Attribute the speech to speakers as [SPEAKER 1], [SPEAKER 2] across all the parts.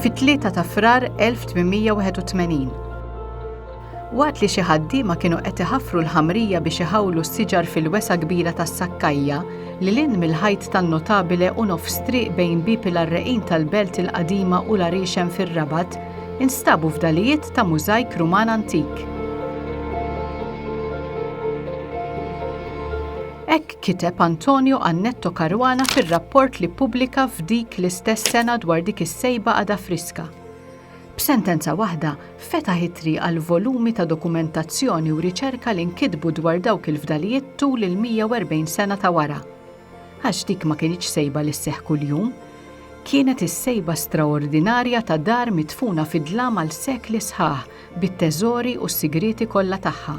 [SPEAKER 1] fit-3 ta' Frar 1881. Waqt li xi ħaddiema kienu qed iħaffru l-ħamrija biex iħawlu s-siġar fil-wesa kbira tas-sakkajja li lin mill-ħajt tan-notabile u nofs triq bejn bieb il-għarreqin tal-belt il-qadima u l-għarixem fir-Rabat, Instabu fdalijiet ta' mużajk Ruman antik. Hekk kiteb Antonio Annetto Caruana fir-rapport li ppubblika f'dik l-istess sena dwar dik is-sejba għadha friska. B'sentenza waħda, fetaħ it-triq għal volumi ta' dokumentazzjoni u riċerka li nkitbu dwar dawk il-fdalijiet tul il-140 sena ta' wara. Għax dik ma kinitx sejba li sseħħ kuljum. Kienet is-sejba straordinarja ta' dar midfuna fid-dlam għal sekli sħaħ bit-teżori u s-sigrieti kollha tagħha.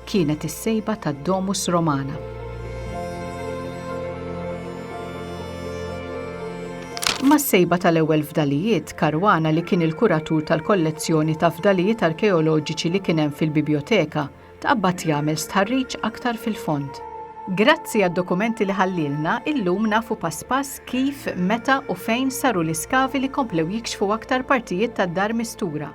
[SPEAKER 1] Kienet is-sejba tad-Domus Romana. Mas-sejba tal-ewwel fdalijiet, Caruana li kien il-kuratur tal-kollezzjoni ta' fdalijiet arkeoloġiċi li kien hemm fil-bibjoteka, Tqabbad jagħmel stħarriġ aktar fil-fond. Grazzi għad-dokumenti li ħallielna, illum nafu pass pass kif, meta u fejn saru l-iskavi li komplew jikxfu aktar partijiet tad-dar mistura.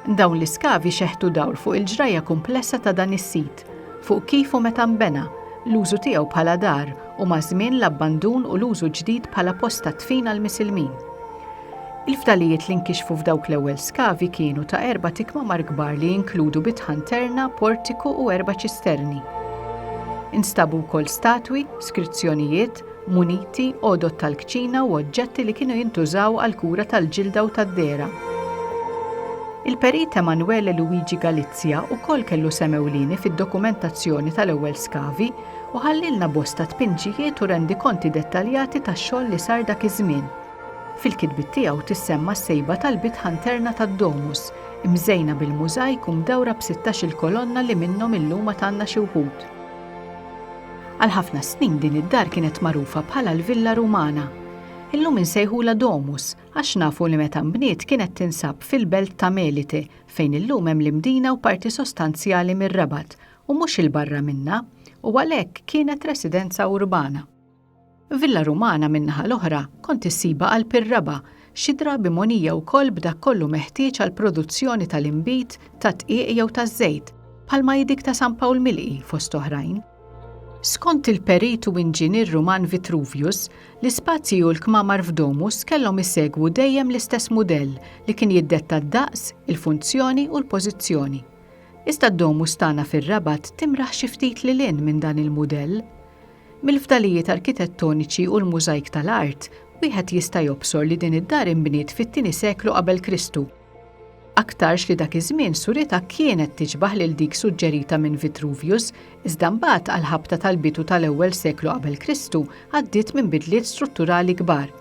[SPEAKER 1] Dawn l-iskavi xeħtu dawl fuq il-ġrajja kumplessa ta' dan is-sit, fuq kif u meta nbena, l-użu tiegħu bħala dar u maż-żmien l-abbandun u l-użu ġdid bħala post tad-dfin għall-misilmin. Il-fdalijiet li nkixfu f'dawk l-ewwel skavi kienu ta' erbat ikmamar kbar li jinkludu bitħan terna, portiku u erba' ċisterni. Instabu wkoll statwi, skrizzjonijiet, muniti, għodod tal-kċina u oġġetti li kienu jintużaw għall-kura tal-ġilda u tad-dehra. Il-Perit Emanuele Luigi Galizia wkoll kellu sehem ewlieni fid-dokumentazzjoni tal-ewwel skavi u ħallielna bosta tpinġijiet u rendikonti dettaljati tax-xogħol li sar dak iż-żmien. Fil-kitbiet tiegħu tissemma s-sejba tal-bit ħanterna tad-domus, imżejna bil-mużajk u mdawra b'sittax-il kolonna li minnhom illum għad għandna xi wħud. Għal ħafna snin din id-dar kienet magħrufa bħala l-Villa Rumana. Illum insejħulha domus għax nafu li meta nbniet kienet tinsab fil-belt ta' Melite fejn illum hemm l-Imdina u parti sostanzjali mir-Rabat u mhux 'il barra minnha u għalhekk kienet residenza urbana. Villa Rumana min-naħa l-oħra kont issibha qalb ir-raba', xi drabi mogħnija wkoll b'dak kollu meħtieġ għall-produzzjoni tal-inbid, tad-dqiq jew taż-żejt, bħalma hi dik ta' San Pawl Milqi, fost oħrajn. Skont il-perit u inġinier Ruman Vitruvius, l-ispazji u l-kmamar f'Domus kellhom isegwu dejjem l-istess mudell li kien jiddetta d-daqs, il-funzjoni u l-pożizzjoni. Iżda d-Domus tagħna fir-Rabat timraħ xi ftit lil hinn minn dan il-mudell. Mill-fdalijiet arkitettoniċi u l-mużajk tal-art, wieħed jista' jobsor li din id-dar inbniet fit-tieni seklu qabel Kristu. Aktarx li dak iż-żmien suritha kienet tiġbah lil dik suġġerita minn Vitruvius, iżda mbagħad għall-ħabta tal-bidu tal-ewwel seklu qabel Kristu għaddiet minn bidliet strutturali kbar.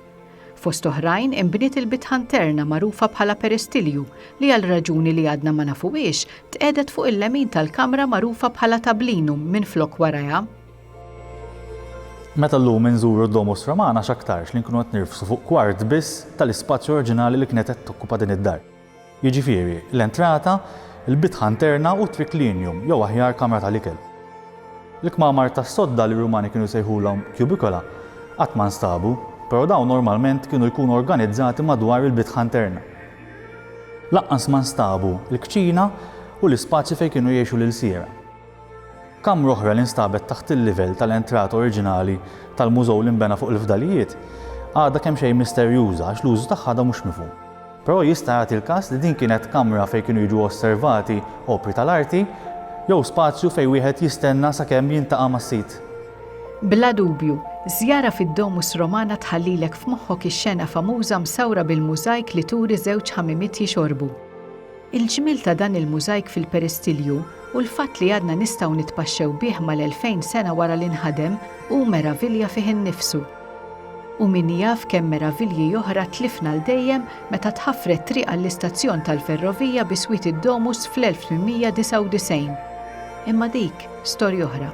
[SPEAKER 1] Fost oħrajn inbniet il-bitħan terna magħrufa bħala peristilju li għal raġuni li għadna ma nafuhiex tqiegħdet fuq il-lemin tal-kamra magħrufa bħala tablinum minflok warajha.
[SPEAKER 2] Meta llum inżuru d-Domus Romana x'aktarx li nkunu qed nirfsu fuq kwart biss tal-ispazju oriġinali li kienet qed tokkupa din id-dar. Jiġifieri, l-entrata, il-bitħa interna u t-triklinium, jew aħjar kamra tal-ikel. L-kmamar tas-sodda li r-Rumani kienu jsejħulhom cubicola qatt ma nstabu, però dawn normalment kienu jkunu organizzati madwar il-bitħa interna. Lanqas ma nstabu l-kċina u l-ispazju fejn kienu jgħixu l-ilsiera. Kamra oħra li nstabet taħt il-livell tal-entrata oriġinali tal-mużew li nbena fuq il-fdalijiet għadha kemxejn misterjuża għax l-użu tagħha għadha mhux mifhum. Però jista' jagħti l-każ li din kienet kamra fejn kienu jiġu osservati opri tal-arti jew spazju fejn wieħed jistenna sakemm jiltaqa' mas-sid. Bla
[SPEAKER 1] dubju, żjara fid-Domus Romana tħallilek f'moħħok ix-xena famuża msawra bil-mużajk li turi żewġ ħamimiet jixorbu. Il-ġmiel ta' dan il-mużajk fil-peristilju u l-fatt li għadna nistgħu nitpaxxew bih mal-elfejn sena wara li nħadem hu meravilja fih innifsu. U min jaf kemm meravilji oħra tlifna għal dejjem meta tħaffret triq għall-istazzjon tal-ferrovija bi swiet id-Domus fl-1899. Imma dik storja oħra.